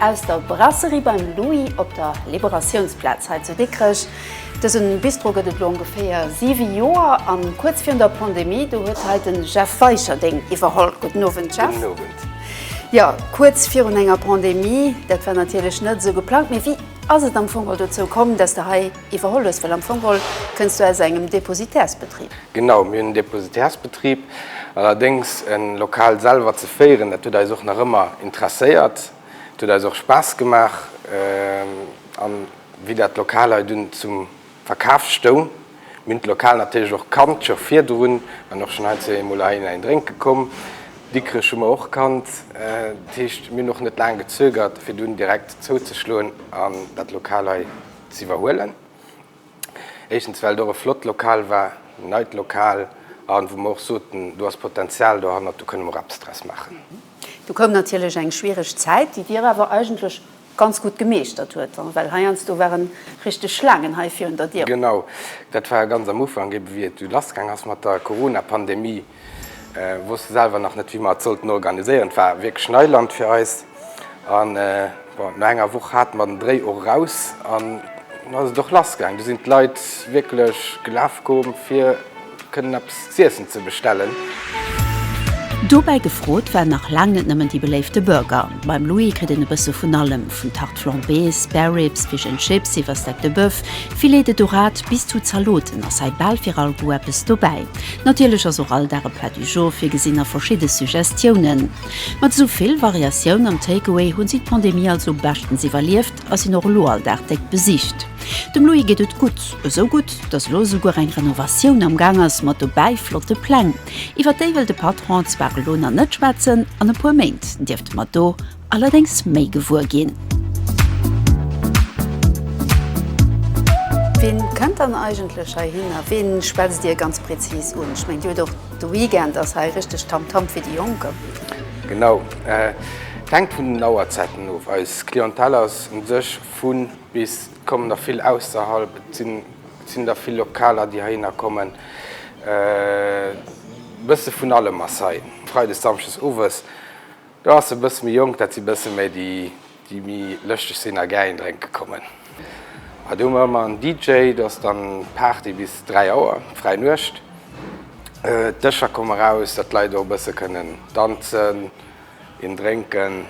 Aus der Brasserie beim Louis op der Liberatiounsplaz hei zu Dikrech. Dëse Bistro gëtt et elo ongeféier siwe Joer an kuerz virun der Pandemie, do huet hei de Jeff Weicherding iwwerholl. Gudden Owend Jeff. Gudden Owend. Jo, kuerz virun enger Pandemie, dat war natierlech net esou geplangt, mee wéi ass et am Fong hei dozou komm, dass de hei. Iwwerholl hues, well am Fong geholl kënns du aus engem Depositärsbetrib. Genau, mir hunn en Depositärsbetrib. Allerdéngs e Lokal selwer ze féieren, dat huet eis och nach ëmmer interesséiert. Et huet eis och Spaass gemaach. A wéi dat Lokal hei dunn zum Verkaf stoung, mir hunn d'Lokal natierlech och kannt scho virdrun an och schonn hei zwee emol heihin ein drénke komm. Dikrech hu mer och kannt. Dat heescht, mir hunn och net laang gezögert, fir dunn direkt zouzeschloen an dat Lokal hei z'iwwerhuelen. Éischtens well et och e flott Lokal war, en neit Lokal, an wou mer och soten, do ass Potenzial dohannert, do kënne mer och eppes draus maachen. Do koum natierlech eng schwiereg Zäit, déi Dir awer eigentlech ganz gutt gemeeschtert huet, well heiansdo ware richteg Schlaangen hei virun der Dier. Genau, dat war ganz am Ufank, ebe wéi et lassgaang ass mat der Corona-Pandemie. Wosste selwer nach net wéi mer et sollten organiséieren. Et war wierklech Neiland fir eis an bon no enger Woch hate mer den Dréi och eraus an lo ass et och lass gaang. Do sinn d'Leit wierklech gelaf komm fir kënnen eppes z'iessen ze bestellen. Dobäi gefrot war nach laang net nëmmen déi beléifte Burger. Beim Louis kritt een e bësse vun allem, vun. Flambées, Spare Ribs, Fish and Chips iwwer Steak de Boeuf, Filet de Dorade bis zu Zaloten ass hei bal fir all Goût eppes dobäi. Natierlech ass och all Dag e Plat du jour virgesinn a verschidde Suggestiounen. Mat esou vill Variatioun am Takeaway hunn si d'Pandemie also beschtens iwwerlieft a sinn och elo all Dag déck besicht. Dem Louis geet et gutt, esou gutt, dass elo esouguer eng Renovatioun am Gaang ass, mat dobäi flotte Pläng. Iwwer déi wëll de Patron zwar elo nach net schwätzen, an e puer Méint dierfte mer do. allerdéngs méi gewuer ginn. Wien kënnt dann eigentlech heihin a wien schwätzt Dir ganz präzis un? Ech mengen, Dir hutt och de Weekend, ass hei richteg Tamtam fir déi Jonken. Genau, et hänkt vun den Auerzeiten of. Eis Clientèle ass un sech vun bis, et kommen der vill ausserhalb, et sinn der vill Lokaler déi heihinner kommen, e bësse vun allem ass hei, freides, samschdes owes. Do ass e bësse méi jonk, dat si bësse méi déi, déi méi lëschteg sinn a gär een drénke kommen. Mä do hu mer ëmmer en DJ, do ass dann Party bis dräi Auer, fräi Nuecht. D'Dëscher komme raus, datt d'Leit och e bësse kënnen danzen, een drénken.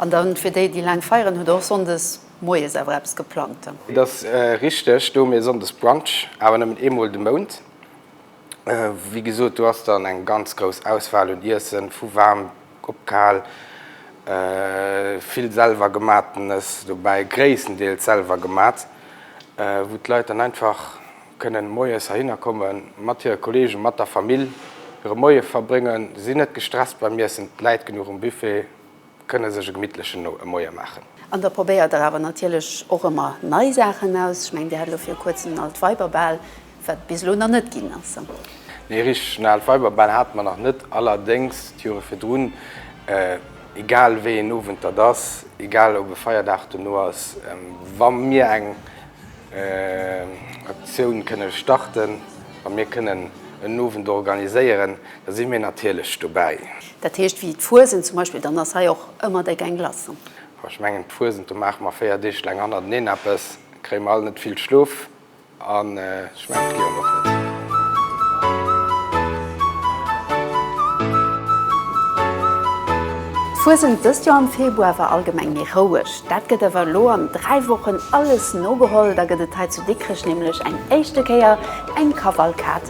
An da fir déi, déi laang feieren, hutt der och sonndes moies awer eppes geplangt? Et ass richteg, do hu mir sonndes Brunch, awer nëmmen eemol de Mount. Wéi gesot, do ass dann eng ganz grouss Auswahl un Iessen, vu waarm op kal, vill selwer gemaatenes dobäi, gréisstendeels selwer gemaat, wou d'Leit dann einfach kënnen moies heihinner komme mat hire Kollegen, mat der Famill hire Moie verbréngen. Si sinn net gestresst beim Iessen, d'Läit genuch um Buffet. kënne sech e gemittlechen no e Moie maachen. An da probéiert der awer natierlech och ëmmer nei Saachen aus. Ech mengen, Dir hat elo viru Kuerzem en Altweiberbal, wat bis elo nach net ginn ass. Nee, richteg, en Altweiberbal hate mer nach net. Allerdéngs, d'Jore virdrun, egal wéi een Owend dat ass, egal ob e Feierdag dono ass, wa mir eng Aktioun kënne starten, wa mir kënnen en Owend organiséieren, da si mir natierlech dobäi. Dat heescht, wéi d'Fuesent zum Beispill, dann ass hei och ëmmer déck eng Glace dran. Boah, ech mengen d'Fuesent, do maache mer 4 Deeg laang hannerteneen eppes, kréie mer all net vill Schlof an ech mengen d'Lyon och net. D'Fuesent dëst Joer am Februar war allgemeng méi roueg. Dat gëtt awer elo an 3 Wochen alles nogeholl, da gëtt et hei zu Dikrech nämlech eng éischte Kéier eng Kavalkad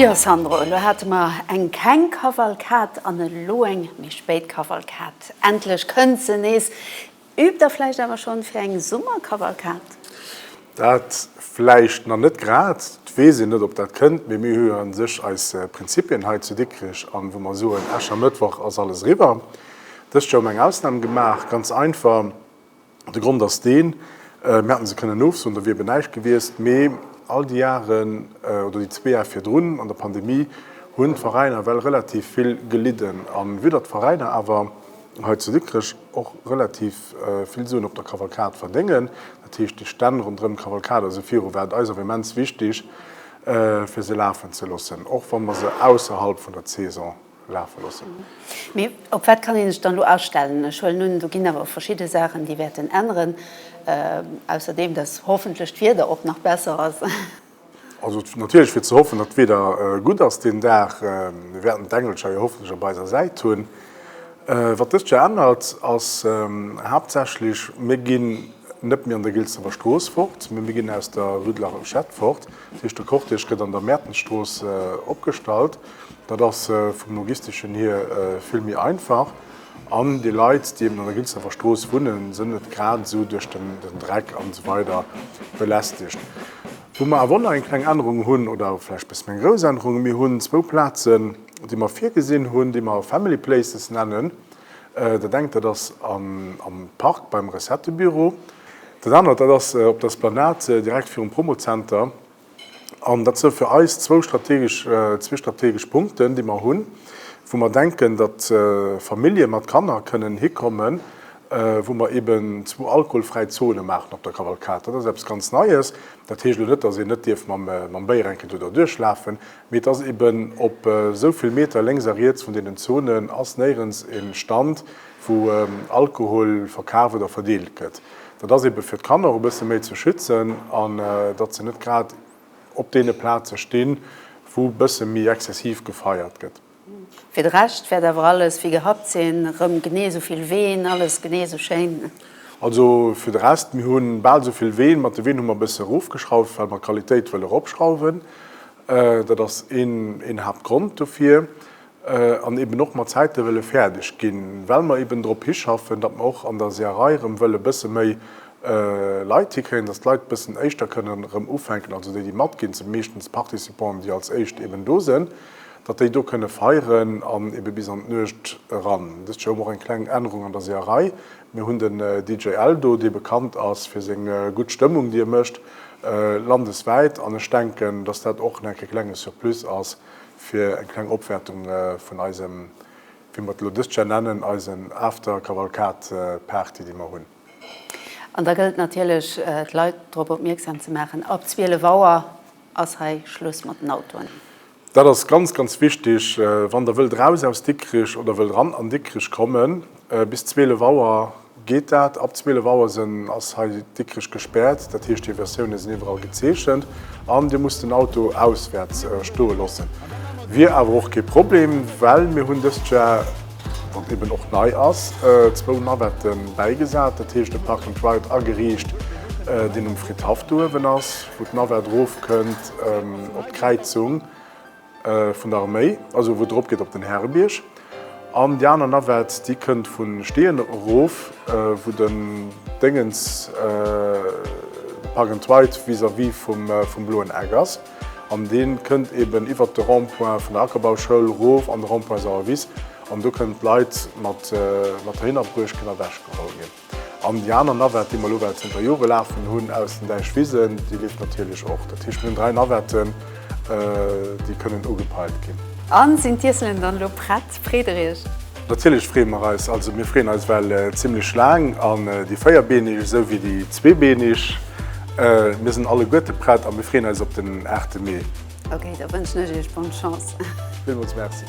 Jo Sandro, elo hate mer eng keng Kavalkad an elo eng méi spéit Kavalkad. Endlech kënnt se nees. Üübt der vläicht awer schonn fir eng Summerkavalkad? Dat vläicht nach net grad, et weess een net, ob dat kënnt, mee mir hu jo a sech eis Prinzipien hei zu Dikrech an wou mer soen, Äschermëttwoch ass alles eriwwer. Dëst Joer hu mer eng Ausnam gemaach, ganz einfach, de Grond ass deen, mir hätte se kënnen ofsoen, da wier eben näischt gewiescht, mee all déi Jaren oder déi zwee Jare virdrun an der Pandemie hunn d'Veräiner ewell relativ vill gelidden a vu datt d'Veräiner awer, hei zu Dikrech och relativ vill Suen op der Kavalkad verdéngen. Dat heescht, déi Stänn ronderëm d'Kavalkad, also viru, war et eis awer immens wichtig, fir se lafen ze loossen, och wa mer se ausserhalb vun der Saison lafe loossen. Mee op wat kann ee sech dann elo astellen? Ech huelen un, do ginn awer verschidde Saachen, déi wäerten änneren, ausserdeem, dass hoffentlech d'Wieder och nach besser ass. Also et natierlech fir ze hoffen, datt d'Wieder gutt ass deen Dag. Mir wäerten d'Engelcher jo hoffentlech op eiser Säit hunn. Wat dëst Joer ännert ass haaptsächlech, mir ginn net méi an der Gilsdefer Strooss fort, mee mir ginn aus der Rue de la Rochette fort. Dat heescht, de Cortège gëtt an der Mäertensstrooss opgestallt. Dat ass vum Logisteschen hier vill méi einfach. An déi Leit, déi eben an der Gilsdorfer Strooss wunnen, sënn net grad esou duerch den Dreck an esou weider belästegt. Wou mer awer och nach eng kleng Ännerung hunn, oder vläicht bësse méi eng grouss Ännerung, Mir hunn zwou Plazen, déi mer virgesinn hunn, déi mer Family Places nennen. Dat engt, dat ass am Park beim Recettebüro. Dat anert, dat ass op der Esplanade direkt virum Promo-Zenter. An dat sou fir eis zwou strategesch, zwee strategesch Punkten, déi mer hunn, wou mer denken, datt Famillje mat Kanner kënnen hikommen, wou mer eeben zwou alkoholfräi Zone maachen op der Kavalkad. Dat ass eppes ganz Neies. Dat heescht elo net, datt een net dierf mam Béier eng Kéier do derduerch lafen, mee et ass eeben op esou vill Meter lénks a riets vun deenen Zonen ass néierens e Stand, wou Alkohol verkaf oder verdeelt gëtt. Dat ass eebe fir d'Kanner och e bësse méi ze schützen an datt se net grad op deene Plaze stinn, wou e bësse méi exzessiv gefeiert gëtt. Fir de Rescht wäert awer alles wéi gehabt sinn, erëm genee esou vill Ween, alles genee esou schéin. Also fir de Rest, mir hu bal esou vill Ween. Mat de Ween hu mer e bësse erofgeschrauft, well mer d'Qualitéit wëlle eropschrauwen. Dat ass een Haaptgrond dofir. an eben och mat Zäite wëlle fäerdeg ginn, well mer eben drop hischaffen, datt mer och an der Seeërei erëm wëlle e bësse méi Leit hikréien, datt d'Leit e bëssen éischter kënnen erëm ufänken, also déi, déi matginn, et si meeschtens d'Participanten, déi als éischt eben do sinn, datt déi do kënne feieren an ebe bis an d'Nuecht eran. Dëst Joer hu mer och eng kleng Ännerung an der Seeërei, Mir hunn den DJ Eldo, dee bekannt ass fir seng gutt Stëmmung, déi e mécht landeswäit, an ech denken, datt dat och nach e klenge Surplus ass, fir eng kleng Opwäertung vun eisem, wéi mer et elo dëst Jahr nennen, eisen After-Kavalkad-Party, déi mer hunn. An da gëllt natierlech, d'Leit drop opmierksam ze maachen, ab 12 Auer ass hei Schluss mat den Autoen. Dat ass ganz, ganz wichtig. Wann Der wëllt eraus aus Dikrich oder wëllt eran an Dikrich kommen, bis 12 Auer Geet dat? Ab 12 Auer sen ass hei Dikrech gespärt, dat heescht hier Versioune sen iwwerall gezeechent an dir musst den Auto auswärts stoe lossen. Wier awer och kee Problem, well mir hun dest Jar, wat eben och nei ass, zwou Navetten bäigesat, dat heescht e Park and Ride ageriicht, deen um Fridhaff do uewen ass, wou d'Navett rof kënnt op d'Kräizung. Vun der Arméi, also wou et erop geet op den Härebierg. An déi aner Navette, déi kënnt vu Steeën erof, wou den Déngens, Park and Ride, vis-à-vis vum Bloen Eck ass. An dee kënnt eeben iwwert de Rond-point vun der Ackerbauschoul erof an de Rond-point Sauer Wiss. An do kënnen d'Leit mat der Hinnerbruesch kënne ewechgeholl ginn. An déi aner Navette, déi mer elo well zënter Jore lafen hunn aus den Däich Wisen, déi leeft natierlech och. Dat heescht, mir hunn dräi Navetten, déi kënnen ugepeilt ginn. A sinn d'Iesselen dann elo prett? Freet Der Iech? Natierlech freeë mer eis. Also mir freeën eis well zimmlech laang. An déi Véierbeeneg esou wéi déi Zweebeeneg, mir sinn alleguerte prett a mir freeën eis op den 8 Mee. Ok, da wënschen ech iech bonne Chance. Villmools Merci.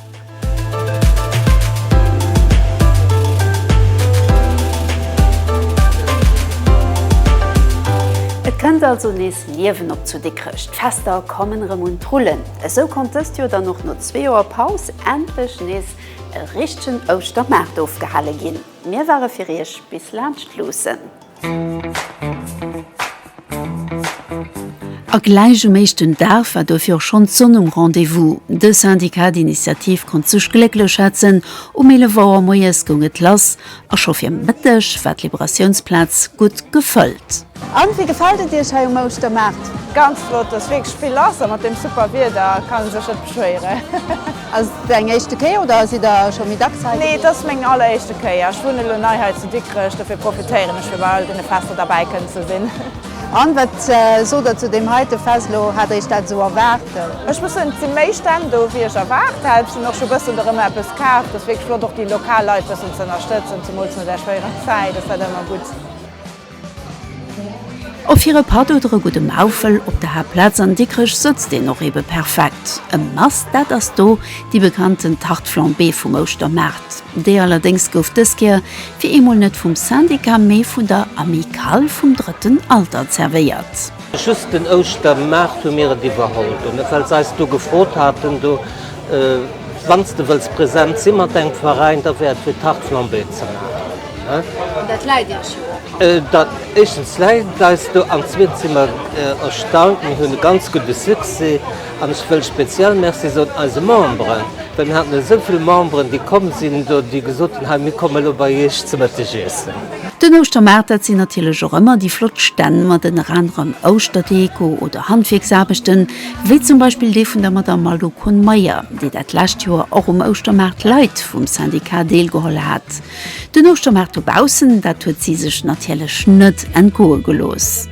Et kënnt also nees Liewen op zu Dikrech, d'Fester kommen erëm un d'Rullen. Esou konnt dëst Joer dann och no zwee Joer Paus endlech nees e richtegen Ouschtermaart ofgehale ginn. Mir ware fir iech bis laanscht luussen. A gläich um éischten Dag war dofir och schonn d'Sonn um Rendez-vous. De Syndicat d'Initiative konnt sech glécklech schätzen, um 11 Auer moies goung et lass a scho fir Mëtteg war d'Liberatiounsplaz gutt gefëllt. An wéi gefält et Iech hei um Ouschtermaart? Ganz flott, et ass wierklech vill lass a mat deem super Wieder kann ee sech net beschwéieren. Ass et deng éischte Kéier oder sidd der scho méi dacks hei gewiescht? Nee, et ass meng alleréischte Kéier. Ech wunnen elo nei hei zu Dikrech, dofir profitéieren ech fir bei all deene Fester derbäi kënnen ze sinn. An wat sot der zu deem heite Fest elo? Hat der iech dat esou erwaart? Ech muss soen, et si méi Stänn do wéi ech erwaart hat. Ech hunn och scho bëssen do rëm eppes kaf. Et ass wierklech flott och déi lokal Leit bëssen ze ënnerstëtzen, zemools no där schwéierer Zäit ass dat ëmmer gutt. Och fir e Patt oder e gudde Maufel op der Haaptplaz an Dikrech sëtzt een och ebe perfekt. E Must, dat ass do déi bekannten Tarte flambée vum Ouschtermaart. Déi allerdéngs gouf dës Kéier fir eemol net vum Syndicat, mee vun der Amicale vum drëtten Alter zerwéiert. Just den Ouschtermaart hu mir et iwwerholl dono, well se eis do gefrot haten, do, wann s de wëlls present si mat engem Veräin, da wär et fir Tarte flambée ze maachen. An dat läit Iech jo och. Éischtens läit et eis do an zweetens si mer erstaunt, mir hunn e ganz gudde Succès. An ech wëll speziell Merci soen eise Memberen, well mir haten esou vill Memberen, déi komm sinn do, déi gesot hunn, hei mir komme lo bei Iech ze Mëtteg iessen. Den Ouschtermaart, dat sinn natierlech och ëmmer déi flott Stänn mat ënner anerem Ouschterdeko oder Handwierksaarbechten, wéi zum Beispill dee vun der Madamm Malou Kohn-Meyer, déi dat lescht Joer och um Ouschtermaart Leit vum Syndicat deelgeholl hat. Den Ouschtermaart dobaussen, dat huet si sech natierlech net entgoe gelooss.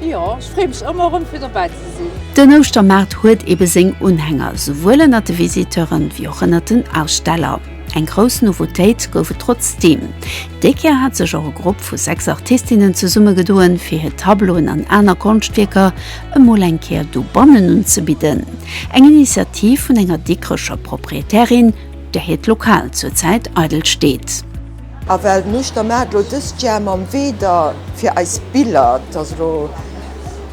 Jo, ech freeë mech ëmmer erëm fir dobäi ze sinn. Den Ouschtermaart huet ebe seng Unhänger, souwuel ënnert de Visiteuren wéi och ënnert den Aussteller. Eng grouss Nouveautéit gouf et trotzdeem. Déi Kéier hat sech och e Grupp vu 6 Artistinnen zesummegedoen, fir hir Tableauen an aner Konschtwierker emol eng Kéier dobannen unzebidden. Eng Initiativ vun enger Dikrecher Proprietärin, där hiert Lokal zur Zäit eidel steet. A well mech der Maat elo dëst Jahr mam Weder fir eis Biller, 't ass elo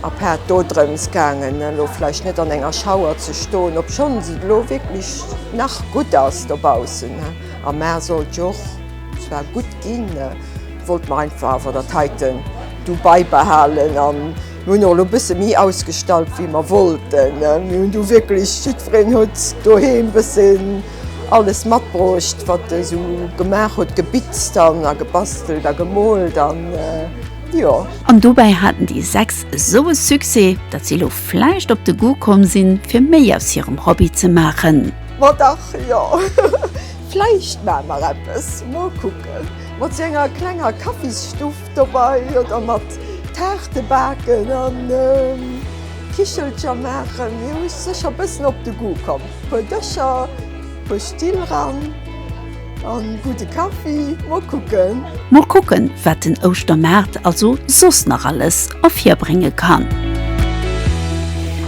a part dodrëms gaangen elo vläicht net an enger Schauer ze stoen, obschonn se elo wierklech nach gutt ass dobaussen, am Maart sollt jo och zwar gutt ginn, wollt mer einfach awer dat heiten du beibehalen an mir hunn och elo bësse méi ausgestallt wéi mer wollten. Mir hunn du wierklech, jiddwereen huet doheem bësse. alles matbruecht wat e sou gemaach huet, gebitzt an a gebastelt a gemoolt an jo. An dobäi haten déi 6 esou e Succès, datt si elo vläicht op de Goût komm sinn, fir méi aus hirem Hobby ze maachen. Ma dach jo, vläicht maache mer eppes, mol kucken. Mat sou enger klenger Kaffisstuff Dobei oder mat Taarte baken an Kichelcher maachen. Mir hu secher bëssen op de Goût komm. Puer Dëscher, puer Still ran an gudde Kaffi. Mol kucken. Mol kucken wat den Ouschtermaart also soss nach alles ervirbrénge kann.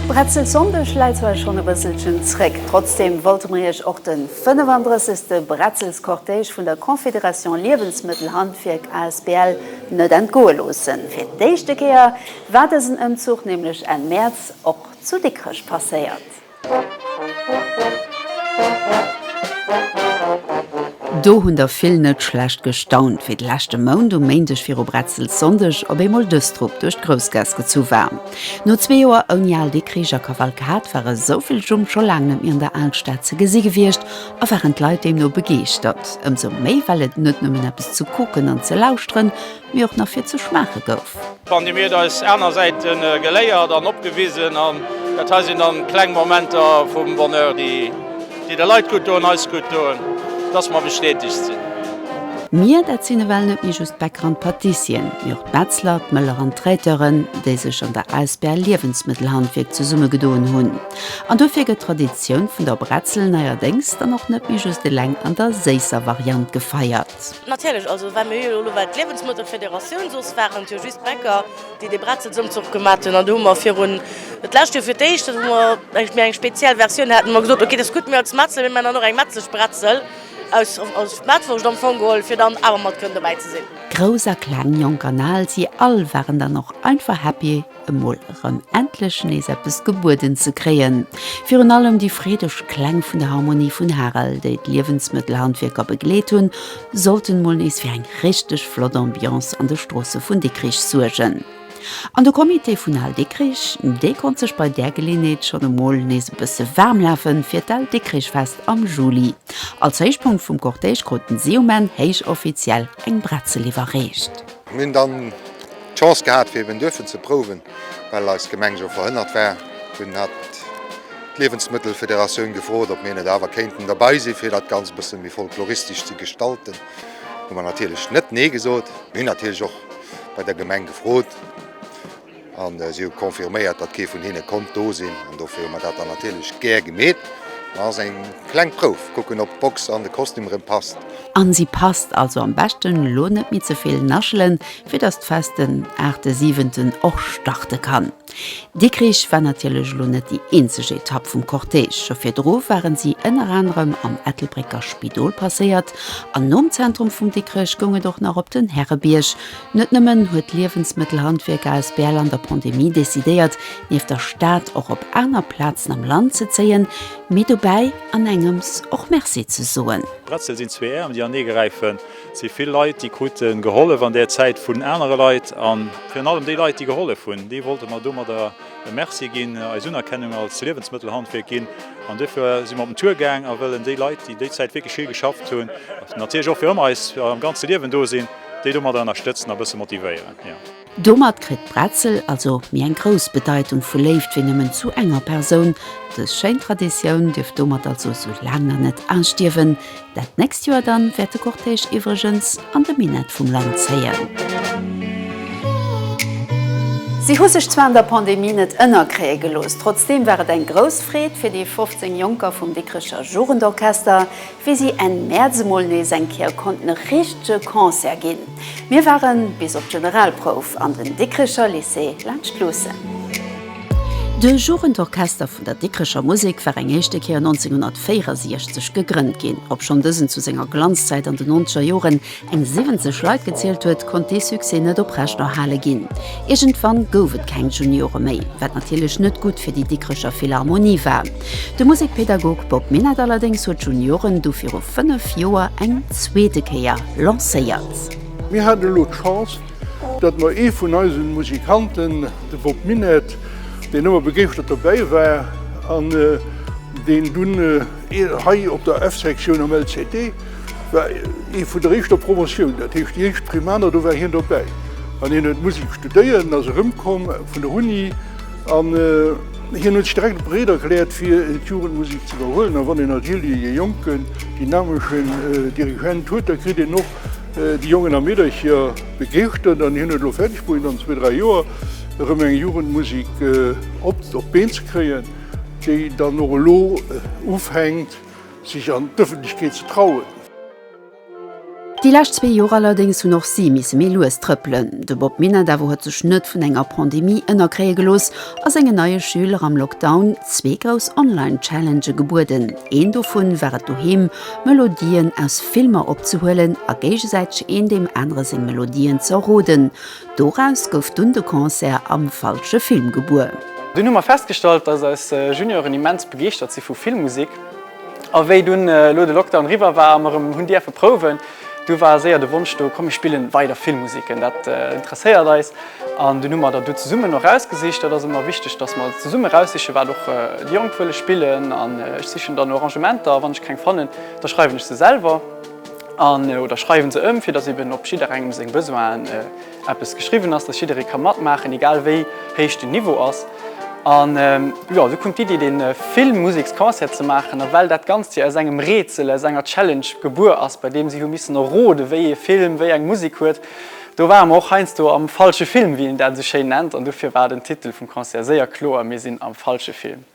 Bretzelsonndeg läit zwar schon e bësselchen zréck, trotzdem wollte mer iech och den. 35. Bretzelscortège vun der Confédération Liewensmëttelhandwierk asbl net entgoe loossen. Fir d'éischte Kéier war dësen Ëmzuch nämlech Enn Mäerz och zu Dikrech passéiert. Do hunn der vill net schlecht gestaunt, wéi de leschte Mount um Méindeg viru Bretzelssonndeg op eemol dës Trupp duerch d'Groussgaass gezu war. No zwee Joer ouni Al de Krich a Kavalkad ware esou vill Jumm scho laang net méi an der Alstad ze gesi gewiescht a waren d'Leit deemno begeeschtert. Ëmsou méi well et net nëmmen eppes ze kucken an ze lauschteren, mee och nach fir ze schmaache gouf. D'Pandemie huet eis aner Säite geléiert an opgewisen an dat hei sinn dann kleng Momenter vum Bonheur déi. Déi de Leit gutt doen, eis gutt doen, dass mer bestätegt sinn. Mir, dat sinn ewell net méi just d'Bäcker an d'Patissien, mee och d'Metzler, d'Mëller an d'Traiteuren, déi sech an der asbl Liewensmëttelhandwierk zesummegedoen hunn. An dofir gëtt d'Traditioun vun der Bretzel neierdéngs dann och net méi just eleng an der séisser Variant gefeiert. Natierlech, also well mir jo elo ewell d'Liewensmëttelfederatioun, soss waren et jo just d'Bäcker. déi de Bretzelsëmzuch gemat hunn an do hu mer virun, et lescht Joer fir d'éischt, datt mer eng méi eng speziell Versioun haten, hu mer gesot, ok, dat ass gutt, mir als Metzler, mir maachen dann och eng Metzlesch Bretzel aus aus Mettwurscht am Fong geholl, fir dann awer mat kënnen dobäi ze sinn. Grouss a Kleng, Jonk an Al, si all waren dann och einfach happy, emol erëm endlech nees eppes gebueden ze kréien. Virun allem déi freedeg Kläng vun der Harmonie vun Harel, déi d'Liewensmëttelhandwierker begleet hunn, sollten mol nees fir eng richteg flott Ambiance an de Stroosse vun Dikrich suergen. An de Comité vun Al Dikrich, dee konnt sech bei där Geleeënheet schonn emol nees e bësse waarm lafen fir d'Al Dikrichfest am Juli. Als Héichpunkt vum Cortège kruten si um Enn héichoffiziell eng Bretzel iwwerreecht. Mir hunn dann d'Chance gehat fir eben duerfen ze prouwen, well eis Gemeng jo verhënnert war. Dunn hat d'Liewensmëttelfederatioun gefrot, ob mir net awer kéinten derbei si fir dat Ganzt e bësse méi folkloristesch ze gestalten. Hu mer natierlech net nee gesot. Mir hunn natierlech och bei der Gemeng gefrot. An si hu confirméiert, datt kee vun hinne konnt do sinn. An dofir hu mer dat dann natierlech gär gemeet. Et ass eng kleng Prouf, kucken, ob d'Box an de Kostüm erëm passt. An si passt. Also am beschten elo net méi ze vill naschelen, fir datt d'Fest den 8.7. och starte kann. Dikrich war natierlech elo net déi eenzeg Etapp vum Cortège. Scho virdru waren si ënner anerem am Ettelbrécker Spidol passéiert. An nom Zentrum vum Dikrech goung et och nach op den Härebierg, Net nëmmen huet d'Liewensmëttelhandwierk asbl an der Pandemie decidéiert, nieft der Stad och op aner Plazen am Land ze zéien, mee dobäi an engems och Merci ze soen. Bretzel sinn zwee Äerm, déi anee gräifen. Et si vill Leit, déi krute gehollef an där Zäit vun anere Leit. A virun allem déi Leit, déi gehollef hunn, deene wollte mer domadder e Merci ginn, eis Unerkennung als Liewensmëttelhandwierk ginn. An dofir si mer op den Tour gaang a wëllen déi Leit, déi déi Zäit wierklech vill geschafft hunn, natierlech och fir ëmmer eis am ganze Liewen do sinn, Déi domadder ënnerstëtzen a bësse motivéieren, jo. Domat kritt d'Bretzel also méi eng grouss Bedeitung vu Léift wéi nëmmen zu enger Persoun. Dës schéin Traditioun dierft domat also sou laang nach net austierwen. Dat nächst Joer dann wäert de Cortège iwwregens an de Minett vum Land zéien. Si hu sech zwar an der Pandemie net ënnerkréie gelooss, trotzdeem war et eng grouss Freed fir déi 15 Jonker vum Dikricher Jugendorchester, wéi si Enn Mäerz emol nees eng Kéier konnten e richtege Concert ginn. Mir ware bis op d'Generalprouf an den Dikricher Lycée laanscht luussen. De Jugendorchester vun der Dikricher Musek war eng éischte Kéier 1964 gegrënnt ginn, obschonn dësen zu senger Glanzzäit an de nonzeger Joren eng 70 Leit gezielt huet, konnt dee Succès net oprechterhale ginn. Iergendwann gouf et keng Juniore méi, wat natierlech net gutt fir déi Dikrecher Philharmonie war. De Musekpedagog Bob Minett allerdéngs huet d'Junioren du viru fënnef Joer eng zweete Kéier lancéiert. Mir haten elo d'Chance, datt mer ee vun eise Musikanten, de Bob Minett, deen ëmmer begeeschtert dobäi war an deen dunn hei op der F-Sektioun am LCD. war ee vun der éischter Promotioun, dat heescht déi éischt Primaner, do war hien dobäi an hien huet Musek studéiert. En ass erëmkomm vun der Uni an hien huet sech direkt bereet erkläert, fir d'Jugendmusek ze iwwerhuelen. A wann een natierlech ee jonken, dynameschen Dirigent huet, da kritt een och déi Jongen a Meedercher begeeschtert. An hien huet elo fäerdeg bruecht, an zwee, dräi Joer erëm eng Jugendmusek op d'Been ze kréien, déi dann och elo ufänkt, Sech an d'Ëffentlechkeet ze trauen. Déi lescht zwee Joer allerdéngs hunn och si misse méi lues trëppelen. De Bob Minett awer huet sech net vun enger Pandemie ënnerkréie gelooss a sengen neie Schüler am Lockdown zwee grouss Online-Challengë gebueden. Een dovun war et doheem Melodien aus Filmer opzehuelen a géigesäiteg een deem anere seng Melodien z'erroden. Doraus gouf dunn de Concert am falsche Film gebuer. Dunn hu mer festgestallt, dass eis Junioren immens begeeschtert si vu Filmmusek. A wéi dunn elo de Lockdown eriwwer war a mer erëm hunn dierfe prouwen, du war séier de Wonsch do, komm mir spillen weider Filmmusiken, dat interesséiert eis. An dunn hu mer der du zesummen och erausgesicht. Dat ass ëmmer wichteg, dass mer zesummen eraussichen, wat och déi Jonk wëlle spillen. An ech sichen dann Arrangementer a wann ech keng fannen, da schreiwen ech se selwer. an oder schreiwen se ëm, fir dass eben op jidderengem seng Besoinen eppes geschriwwen ass, dass jidderee ka matmaachen, egal wéi héich den Niveau ass. An jo, esou koum d'Iddi, dee Filmmusiksconcert ze maachen. A well dat Ganzt jo aus engem Rätsel, aus enger Challenge gebuer ass, bei deem si hu missen erroden, wéi ee Film wéi eng Musik huet, do ware mer och heiansdo am falsche Film, wéi een dat esou schéin nennt. An dofir war den Titel vum Concert séier kloer, Mir sinn am falsche Film.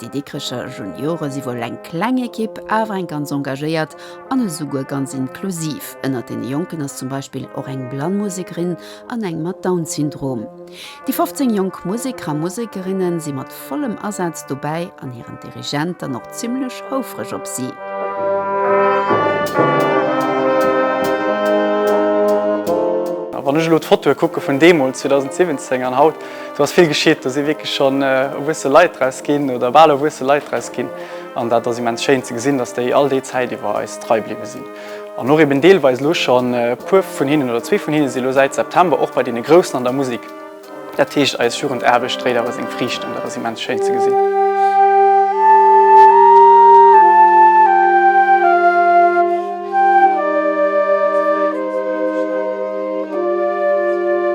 Déi Dikricher Juniore si wuel eng kleng Ekipp, awer eng ganz engagéiert an esouguer ganz inklusiv. Ënnert deene Jonken ass zum Beispill och eng blann Musekerin an eng mat Down-Syndrom. Déi 15 jonk Museker a Musekerinne si mat vollem Asaz dobäi an hiren Dirigent dann och zimmlech houfreg op si. Wann ech elo d'Fotoe kucke vun deemools, 2017, an haut, Do ass vill geschitt, do si wierklech schonn erwuesse Leit draus ginn oder bal erwuesse Leit draus ginn. An dat ass immens schéin ze gesinn, dass déi all déi Zäit iwwer eis trei bliwwe sinn. An och eben deelweis elo schonn e puer vun hinnen oder zwee vun hinne si lo säit September och bei deene Groussen an der Musek. Dat heescht, eis Jugendaarbecht dréit awer seng Friichten. Dat ass immens schéin ze gesinn.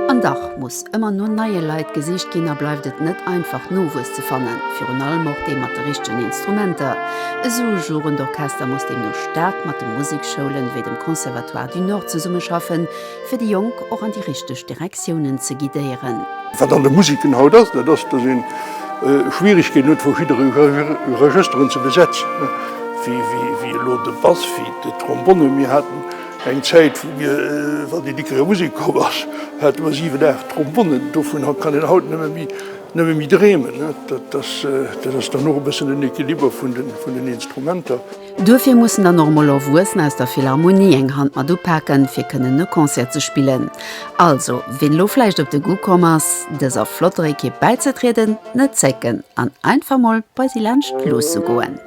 An dach muss. Ëmmer no neie Leit gesicht ginn a bleift et net einfach Nowuess ze fannen, virun allem och dee mat de richtegen Instrumenter. Esou e Jugend Orchester muss deemno staark mat de Museksschoulen, ewéi dem Conservatoire du Nord zesummeschaffen, fir déi Jonk och an déi richteg Direktiounen ze guidéieren. Wat an de Museken haut ass, dat ass, dass een Schwieregkeeten huet verschidde Regësteren ze besetzen, wéi elo de Bass, wéi d'Trombonne. Mir haten Eng Zäit vun mir, wann een dickerer Musek komm ass, hate mer 7, 8 Trombonnen. Dovun kann een haut nëmme méi dreemen. Dat ass dann och e bëssen den Equiliber vun den Instrumenter. Duerfir mussen dann och mol Erwuessener aus der Philharmonie eng Hand mat upaken, fir kënnen e Concert ze spillen. Also, wien elo vläicht op de Goût komm ass, dëser flotter Ekipp bäizetrieden, net zécken an einfach mol bei si laanscht luusse goen.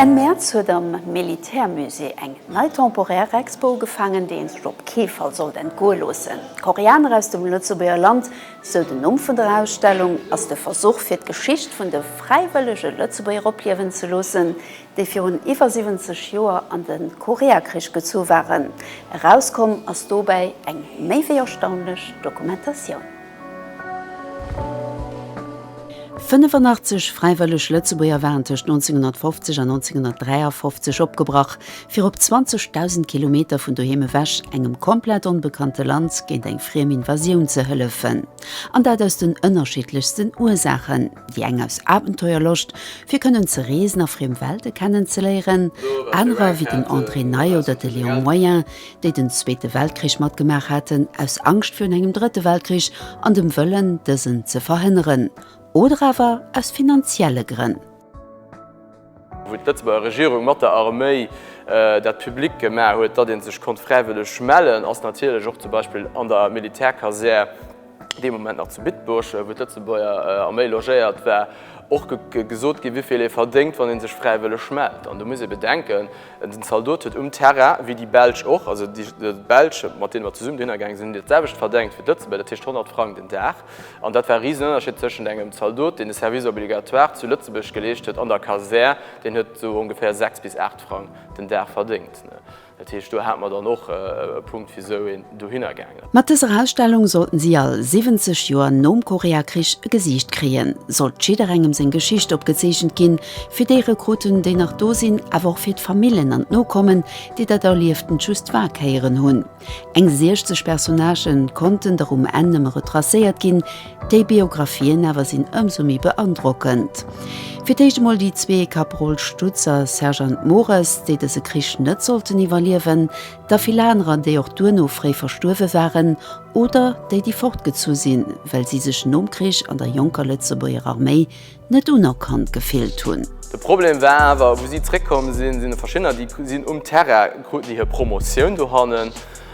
Enn Mäerz huet am Militärmusée eng nei temporaire Expo ugefaangen, déi een sech op kee Fall sollt entgoe loossen. Koreaner aus dem Lëtzebuerger Land, sou den Numm vun der Ausstellung, ass de Versuch fir d'Geschicht vun de fräiwëllege Lëtzebuerger opliewen ze loossen, déi virun iwwer 70 Joer an de Koreakrich gezu waren. Erauskomm ass dobäi eng méi wéi erstaunlech Dokumentatioun. 85 fräiwëlleg Lëtzebuerger waren tëscht 1950 an 1953 opgebrach, fir op 20.000 Kilometer vun doheem ewech engem komplett onbekannte Land géint eng friem Invasioun ze hëllefen. An dat aus den ënnerschiddlechsten Ursaachen. Wéi eng aus Abenteuerloscht, fir kënnen ze reesen a friem Welte kennen ze léieren, anerer wéi den André Ney oder de Léon Moyen, déi den Zweete Weltkrich matgemaach haten, aus Angscht virun engem Drëtte Weltkrich an dem Wëllen, dësen ze verhënneren, oder awer aus finanzielle Grënn. wou d'Lëtzebuerger Regierung mat der Arméi dat public gemaach huet, datt ee sech konnt fräiwëlleg mellen, ass natierlech och zum Beispill an der Militärkasär, dee Moment nach zu Bitburg, wou d'Lëtzebuerger Arméi logéiert war, och gesot ginn, wéi vill ee verdéngt, wann ee sech fräiwëlleg mellt. An do muss ee bedenken, den Zaldot huet um Terrain, wéi déi Belsch och, also déi Belsch, mat deene mer zesummen dohinner gaange sinn, hunn dat selwecht verdéngt wéi d'Lëtzebuerger, dat heescht 100 Frang den Dag. An dat war e riesen Ënnerscheed tëschent engem Zaldot, deen de Service obligatoire zu Lëtzebuerg geleescht huet, an der Kasär, deen huet esou ongeféier 6 bis 8 Frang den Dag verdéngt. Dat heescht, do hate mer dann och e Punkt, wisou een dohinner gaangen ass. Mat dëser Ausstellung sollten si all 70 Joer nom Koreakrich e Gesiicht kréien, sollt jidderengem seng Geschicht opgezeechent ginn, fir déi Rekruten, déi nach do sinn, awer och fir d'Famillen an d'Nokommen, déi dat Erlieftent just war kéieren hunn. Eng 60 Personnagen konnten der um Enn nëmme retracéiert ginn, déi Biographien awer sinn ëmsou méi beandrockend. Fir d'éischt emol déi zwee, Kaproll Stutz a Sergeant Mores, déi dëse Krich net sollten iwwerliewen, da vill anerer, déi och duerno fréi verstuerwe waren, oder déi, déi fortgezu sinn, well si sech nom Krich an der jonker Lëtzebuerger Arméi net unerkannt gefillt hunn. De Problem war awer, wou si zréckkomm sinn, sinn et verschiddener, déi sinn um Terrain, kruten déi hir Promotioun dohannen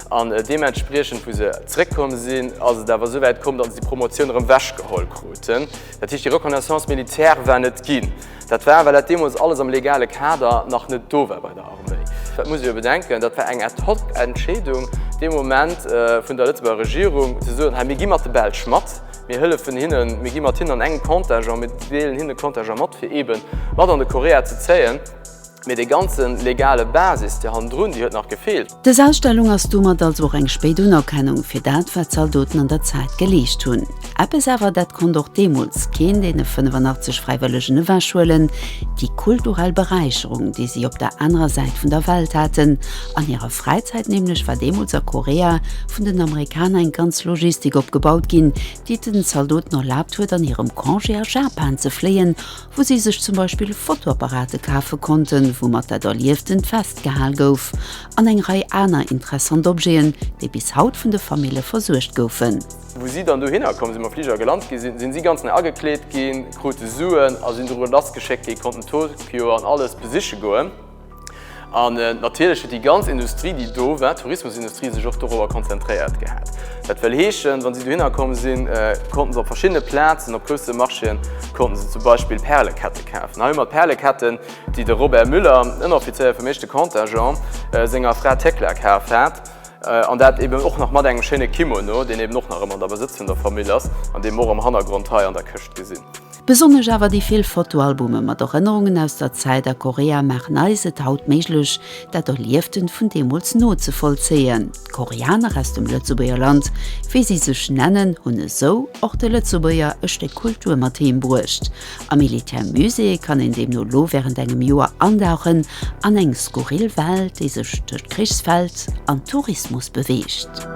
an deementspriechend, wou se zréckkomm sinn, ass et awer esouwäit komm, datt se déi Promotioun erëm wechgeholl kruten. Dat heescht, déi Reconnaissance militaire war net ginn. Dat war, well dat deemools alles am legale Kader nach net do war bei der Arméi. Dat muss ee jo bedenken, dat war eng ad hoc Entscheedung dee Moment vun der Lëtzebuerger Regierung, ze soen, hei, mir gi mat de Belsch mat, Mir hëllefen hinnen, mir gi mat hinnen an engem Comptage a mir deelen hinnen de Comptage mat, fir eeben mat an de Korea ze zéien. Mee dee ganzen legale Basis, déi hannendrun, déi huet nach gefeelt. Dës Ausstellung ass domat also och eng spéit Unerkennung fir dat, wat d'Zaldoten an der Zäit geleescht hunn. Eppes awer, dat konnt och deemools keen deene 85 Fräiwëllegen ewechhuelen, déi kulturell Beräicherung, déi si op der anerer Säit vun der Welt haten An hirer Fräizäit nämlech war deemools a Korea vun den Amerikaner eng ganz Logistik opgebaut ginn, déi et den Zaldoten erlaabt huet an hirem Congé a Japan ze fléien, wou si sech zum Beispill Fotoapparate kafe konnten, woumat dat Erlieftent festgehal gouf, an eng Rei aner interessant Objeten, déi bis haut vun de Famille versuergt goufen. Wou si dann dohinner komm sinn, mam Fliger gelant gi sinn, sinn si ganz nei agekleet ginn, krute Suen a sinn doru lassgeschéckt gi, konnten Tokio an alles besiche goen. An natierlech huet déi ganz Industrie, déi do war, d'Tourismusindustrie, sech och dorobber konzentréiert gehat. Dat wëll heeschen, wa si dohinner komm sinn, konnte se op verschiddene Plazen, op grousse Marchéen, konnte se zum Beispill Pärelekette kafen. Hei hu mer d'Päreleketten, déi de Robert Müller, Ënneroffizéier vum éischte Contingent, senger Fra Thekla kaf hat. An dat eben och nach mat engem schéine Kimono, deen eben och nach ëmmer an der Besëtz vun der Famill ass an dee mer och am Hannergrond hei an der Këscht gesinn. Besonnesch awer déi vill Fotoalbume mat Erënnerungen aus der Zäit a Korea maachen eis et haut méiglech, dat Erlieften vun deemools nozevollzéien. D'Koreaner aus dem Lëtzebuerger Land, wéi si sech nennen, hunn esou och de Lëtzebuerger e Stéck Kultur mat heem bruecht. Am Militär Musée kann een deemno lo wärend engem Joer andauchen an eng skurril Welt, déi sech tëscht Krichsfeld an Tourismus beweegt.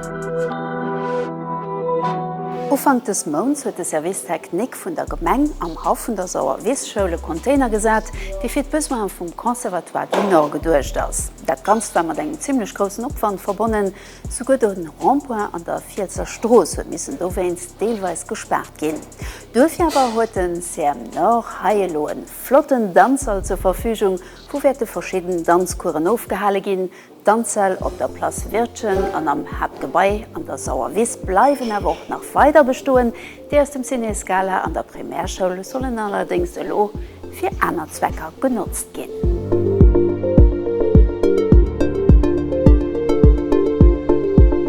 Ufank dës Mounts huet de Service technique vun der Gemeng am Haff vun der Sauerwiesschoul e Container gesat, dee fir d'Besoine vum Conservatoire du Nord geduecht ass. Dat Ganzt war mat engem zimlech groussen Opwand verbonnen, souguer de Rond-point an der Fielsser Strooss huet missen dowéinst deelweis gespaart ginn. Duerfir awer huet de CEM Nord hei elo e flotten Danzsall zur Verfügung, wou wäerte verschidden Danzcouren ofgehale ginn, D'Anzell op der Place Wirtgen an am Haaptgebai an der Sauerwiss bleiwen awer och nach weider bestoen. Déi aus dem Ciné Scala an der Primärschoul sollen allerdéngs elo fir aner Zwecker genotzt ginn.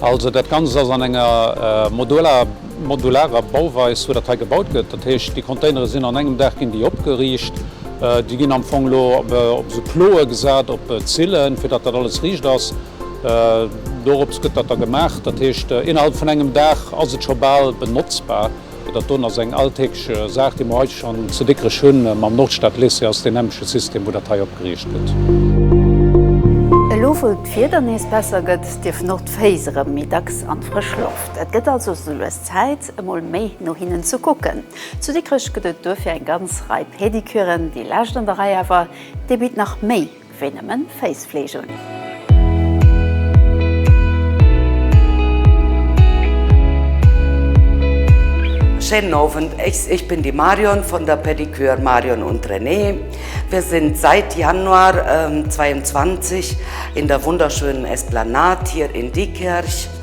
Also dat Ganzt ass an enger modularer Bauweis, wou dat hei gebaut gëtt. Dat heescht, déi Containere sinn an engem Dag ginn déi opgeriicht. Déi ginn am Fong elo op esou Ploë gesat, op Zillen, fir datt dat alles riicht ass. Dorops gëtt dat da gemaach. Dat heescht, innerhalb vun engem Dag ass et scho bal benotzbar. Dat do ass eng alltägeg Saach, déi mer hei schonn zu Dikrech hunn. Mam Nordstadlycée ass et deen nämleche System, wou dat hei opgeriicht gëtt. Elo wou d'Wieder nees besser gëtt, dierfen och d'Féiss erëm méi dacks an d'frësch Loft. Et gëtt also souloues Zäit, emol méi no hinnen ze kucken. Zu Dikrech gëtt et duerfir eng ganz Rei Pedicuren. Déi lescht an der Rei awer, déi bitt nach méi. wéi nëmmen Féissfleeg un. Schéinen Owend, ech bin déi Marion vun der Pedicure Marion und René. Mir sinn seit Januar 22 in der wunderschönen Esplanade hier in Diekirch.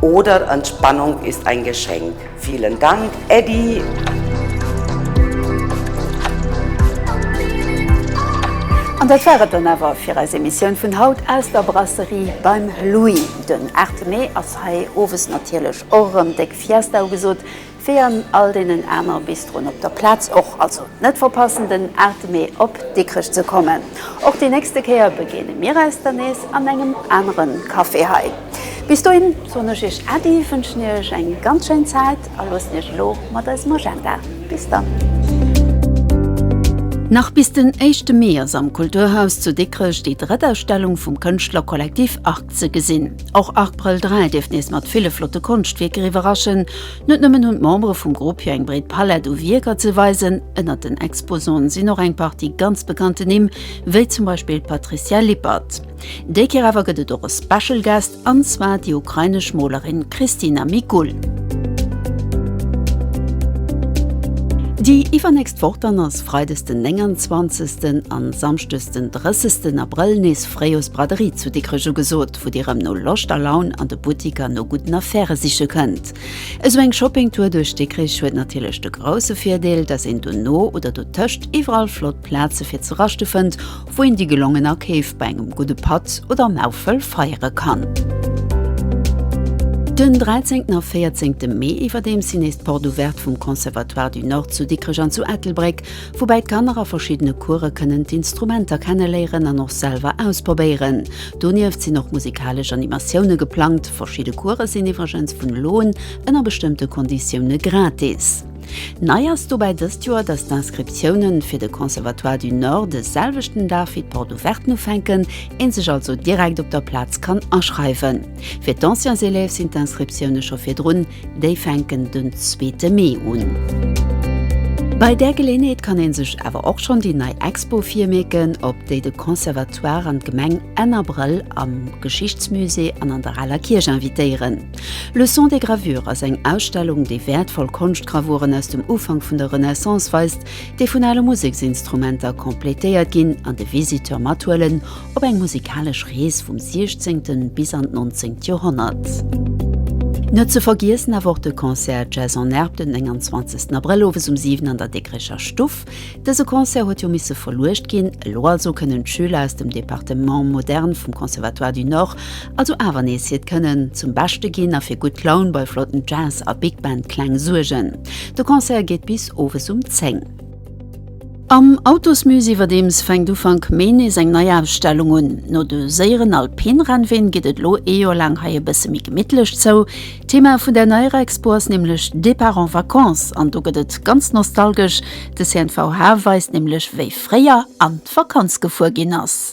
Oder Entspannung ist ein Geschenk. Vielen Dank, Eddy! An dat war et dann awer fir eis Emissioun vun haut aus der Brasserie beim Louis. Den 8 Mee ass hei owes natierlech och erëm déck Fiesta ugesot. Wéi an all deenen aner Bistroen op der Plaz och. Also net verpassen den Artemé op Dikrech ze kommen. Och déi nächste Kéier begéine mir eis dann nees an engem anere Café hei. Bis dohin soen ech iech Äddi, wënschen iech eng ganz schéin Zäit a loossen iech elo mat eisem Agenda. Bis dann. Nach bis den éischte Mee ass am Kulturhaus zu Dikrech déi drëtt Ausstellung vum Kënschtlerkollektiv Arc. Ze gesinn. Och Arc Brel 3 dierft nees mat ville flotte Konschtwierker iwwerraschen. Net nëmmen hunn d'Membere vum Grupp hir eng breet Palett u Wierker ze weisen, ënnert den Exposanten sinn och eng Partie ganz bekannte Nimm, wéi zum Beispill d'Patricia Lippert. Déi Kéier awer gëtt et och e Special Guest, an zwar déi ukrainesch Molerin Christina Mikul. Déi iwwernächst Woch dann ass freides den 29 an samschdes den 30 Abrëll nees. Frejus Braderie zu Dikrech ugesot, wou Dir rëm no Loscht a Laun an de Buttiker no gudden Affairë siche kënnt. Esou eng Shoppingtour duerch Dikrech huet natierlech de grousse Virdeel, dass een dono oder dotëscht iwwerall flott Plaze fir ze raschte fënnt, wou een déi gelongen Akeef bei engem gudde Patt oder am Äffel feiere kann. Den 13. a 14. Mee iwwerdeems sinn nees d'Porte ouvertes vum Conservatoire du Nord zu Dikrech an zu Ettelbréck, woubäi d'Kanner a verschiddene Course kënnen d'Instrumenter kenneléieren an och selwer ausprobéieren. Donieft sinn och musikalesch Animatioune geplangt. Verschidde Course sinn iwwregens vun elo un ënner bestëmmte Konditioune gratis. Nei ass dobäi dëst Joer, dass d'Inscriptioune fir de Conservatoire du Nord de selwechten Dag wéi d'Porte ouverten ufänken, een sech also direkt op der Plaz kann aschreiwen. Fir d'Anciens élèves sinn d'Inscriptioune scho virdrun. Déi fänken den zweete Mee un. Bei där Geleeënheet kann ee sech awer och schonn déi nei Expo virmierken, op déi de Conservatoire an d'Gemeng Enn Abrëll am Geschichtsmusée an an der Aler Kierch invitéieren. Le son des gravures ass eng Ausstellung, déi wäertvoll Konschtgravuren aus dem Ufank vun der Renaissance weist, déi vun ale Museksinstrumenter completéiert ginn an de Visiteur mathuelen, Op eng musikalesch Rees vum 16. bis an d'nonzéngt Joerhonnert. Net ze vergiessen awer och de Concert Jazz en Herbe den 29 Abrëll owes um 7 an der Dikrecher Stuff. Dëse Concert huet jo misse verluecht ginn. Elo also kënnen d'Schüler aus dem Departement Moderne vum Conservatoire du Nord also awer nees hiert Kënnen zum Beschte ginn a fir gutt Laun bei flotten Jazz a Big Band Kläng suergen. De Concert geet bis owes um 10. Am Autosmusée iwwerdeems fänkt Ufank Mee nees eng nei Ausstellung un. No de séieren Alpin-Rennween geet et elo ee Joer laang hei e bësse méi gemittlech zou. Thema vun der neier Expo ass nämlech Départ en vacances an do gëtt et ganz nostalgesch. De CNVH weist nämlech wéi fréier an d'Vakanz gefuer ginn ass.